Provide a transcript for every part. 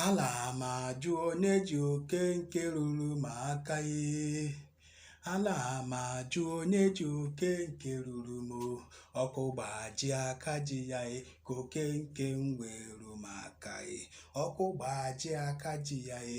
Ala m ajụ onye ji oke nke ruru m aka ee. Ala m ajụ onye ji oke nke ruru m o. Ọkụ gbaji aka ji ya e ka oke nke m wee ru m aka e. Ọkụ gbaji aka ji ya e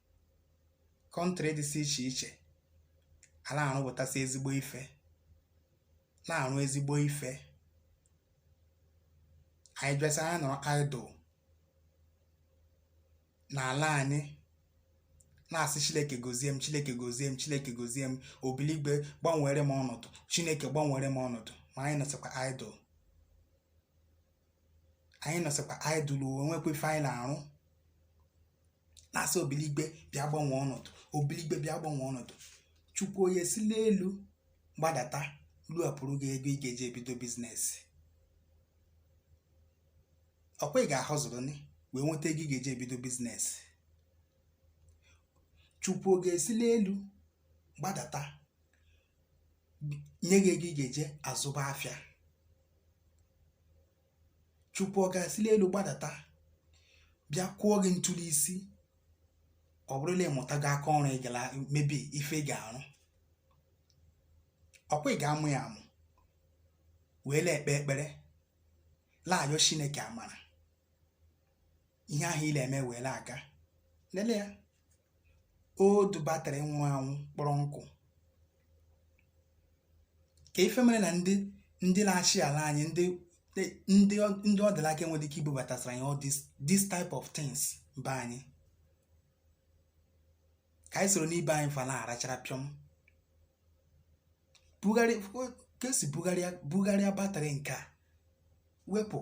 kọntrị dịsị iche iche a na-arụpụtasị ezigbo ife na-arụ ezigbo ife anyị bịasị anyị nọrọ idle n'ala anyị na-asị chineke gozie m chineke gozie m chineke gozie m obiligwe gbanwere m ọnọdụ chineke gbanwere m ọnọdụ ma anyị nọsịkwa idle anyị nọsịkwa idle o nwekwa ife anyị na-arụ na-asị obiligwe bịa gbanwee ọnọdụ obiligwe bịa gbanwee ọnọdụ chukwu ọ ga-esi n'elu gbadata luapụrụ gị ego ị ga-eji ebido biznes ọkwa ị ga-ahọzụrụ ni wee nweta ego ị ga-eji ebido biznes chukwu ọ ga-esi n'elu gbadata nye gị ego ị ga-eji azụba afịa chukwu ọ ga-esi n'elu gbadata bịa kwụọ gị ntụli isi ọ bụrụ na ị mụtaghị aka ọrụ ị gara mebe ife ị ga-arụ ọkwa ị ga-amụ ya amụ wee na-ekpe ekpere la-ayọ chineke amara ihe ahụ ị na-eme wee na-aga lele ya old batrị nwụrụ anwụ kpọrọ nkụ ka ife mere na ndị ndị na-achị ala anyị ndị ndị ndị ọ dị l'aka enwere ike ibubatasịra anyị all this this type of things be anyị ka anyị soro n'ibe anyị fa na-arachara pịọm bugharị ka esi bugharịa bugharịa batrị nke a wepụ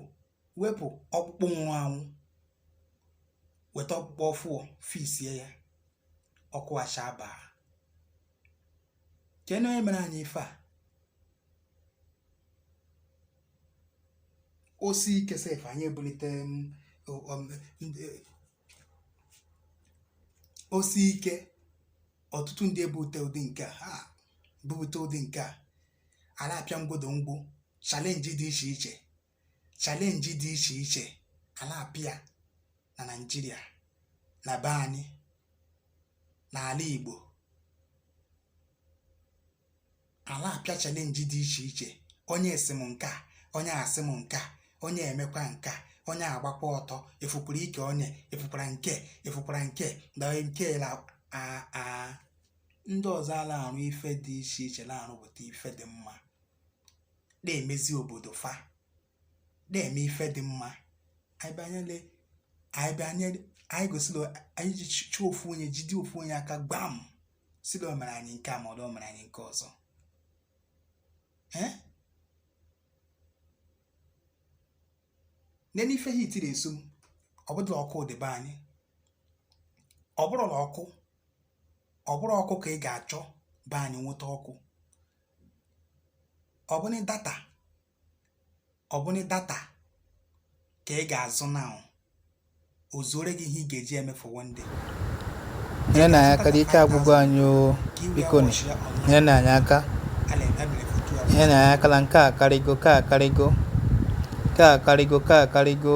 wepụ ọkpụkpụ nwụrụ anwụ weta ọkpụkpụ ọfụọ fiksie ya ọkụ achaba kee na onye mere anyị ife a o sie ike sef anyị ebulite m, o- om- ndị- e, o sie ike ọtụtụ ndị ebupụta ụdị nke a ha bupụta ụdị nke a a na-apịa mgbodo mgbu chalenji dị iche iche chalenji dị iche iche a na-apịa na naijiria na be anyị n'ala igbo a na-apịa chalenji dị iche iche onye asị m nke a onye asị m nke a onye emekwa nke a onye agbakwa ọtọ ị fụkwara ike onye ị fụkwara nke ị fụkwara nke na nke la a a ndị ọzọ ala-arụ ife dị iche iche na-arụpụta ife dị mma na-emezi obodo fa na-eme ife dị mma anyị banyere anyị banye anyị gosila anyị ji chụọ ofu onye jide ofu onye aka gbam sị la o mere anyị nke a ma ọ bụ o mere anyị nke ọzọ ee nene ife heat na-eso m ọ bụrụ la ọkụ dị be anyị ọ bụrụ la ọkụ ọ bụrụ ọkụ ka ị ga-achọ be anyị nweta ọkụ ọ bụnị data ọ bụnị data ka ị ga-azụ na o zuore gị ihe ị ga-eji eme for one day nyerenụ anyị aka ike agwụgo anyị o biko nyerenụ anyị aka nyerenụ anyị aka na nke a akarịgo ka akarịgo ka akarịgo ka akarịgo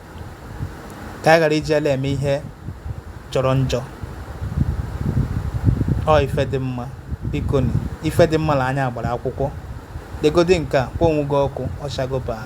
ka anyị ghara iji ala eme ihe jọrọ njọ ọ ife dị mma biko na ife dị mma na anya agbara akwụkwọ degodi nke a kpọọ onwe gị ọkụ ọchago baa